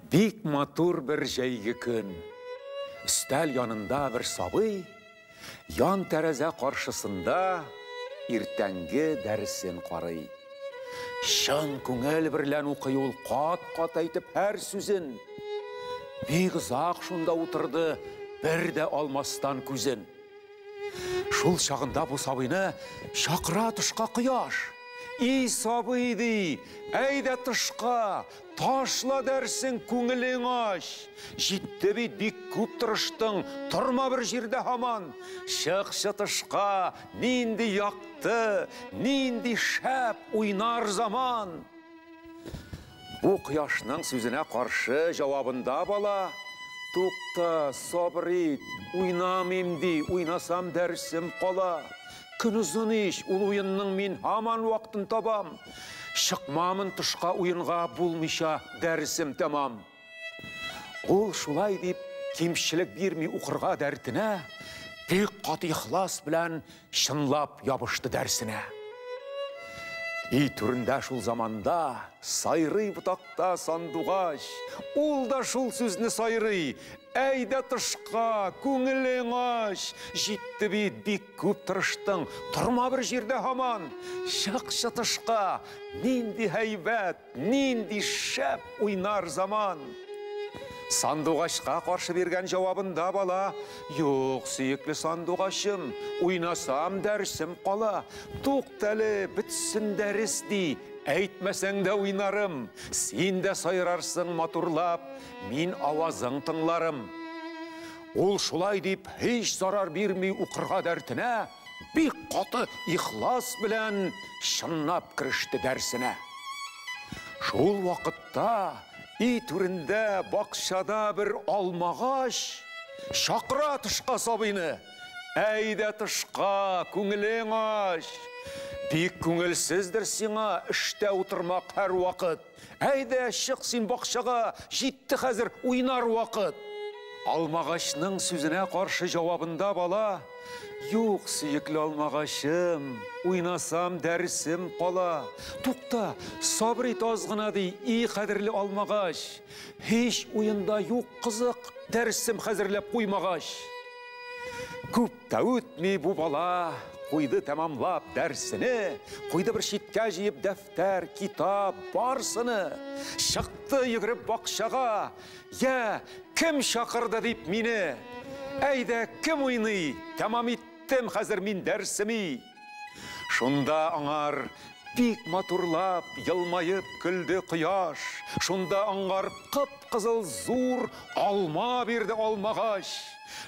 Бик матур бер җәйге көн. Өстәл янында бер сабый, ян тәрәзә каршысында иртәнге дәресен карый. Чын күңел берлән укый ул кат-кат әйтеп һәр сүзен. Бик озак шунда утырды, бер дә алмастан күзен. Шул чагында бу сабыйны чакыра тышка кояш. И сабый, ди, әйдә тышка, ташла дәрсең, күңелең ач. Җитте бит, бик күп тырыштың, торма бер җирдә һаман. Чыкчы тышка, нинди якты, нинди шәп уйнар заман. Бу кояшның сүзенә каршы җавабында бала, Тукта, сабыр ит, уйнамыйм, ди, уйнасам дәресем кала. Көн озын ич, ул уенның мин һаман вакытын табам. Чыкмамын тышка уенга, булмыйча дәресем тәмам. Ул шулай дип кимчелек бирми укырга дәртенә, бик каты ихлас белән Чынлап ябышты дәрсенә. И түрендә шул заманда сайрый ботакта сандугач. Ул да шул сүзне сайрый. Әйдә тышка, күңелең ач. Җитте бит, бик күп тырыштың. Торма бер җирдә һаман. Чыкчы тышка, нинди һәйбәт. Нинди шәп уйнар заман! Сандугачка каршы биргән җавабында бала, Юк, сөекле сандугачым, уйнасам дәресем кала. Туктале, бетсен дәрес, ди, әйтмәсәң дә уйнарым. Син дә сайрарсың матурлап, мин авазың тыңларым. Ул шулай дип һич зарар бирми укырга дәртенә, бик каты ихлас белән чынлап кереште дәрсенә. Шул вакытта и түрендә бакчада бер алмагач, шакыра тышка сабыйны. Әйдә тышка, күңелең ач. Бик күңелсездер сиңа эштә утырмак һәр вакыт. Әйдә, чык син бакчага, җитте хәзер уйнар вакыт! Алмагачның сүзенә каршы җавабында бала, Юк, сөекле алмагачым, уйнасам, дәресем кала. Тукта, сабыр ит аз гына, ди, и кадерле алмагач. Һич уенда юк кызык, дәресем хәзерләп куймагач. Күп тә үтми бу бала куйды тәмамлап дәрсене, куйды бер читкә җыеп дәф дәфтәр, китап, барсыны. Чыкты йөгереп бакчага, я, кем чакырды дип мине. Әйдә, кем уйный, тәмам иттем хәзер мин дәрсеми. Шунда аңар бик матурлап, елмаеп көлде кояш. Шунда аңгар кып-кызыл зур алма бирде алмагач.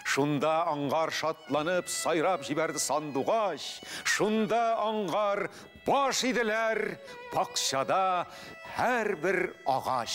Шунда аңгар шатланып сайрап җибәрде сандугач. Шунда аңгар Баш иделәр бакчада һәрбер агач.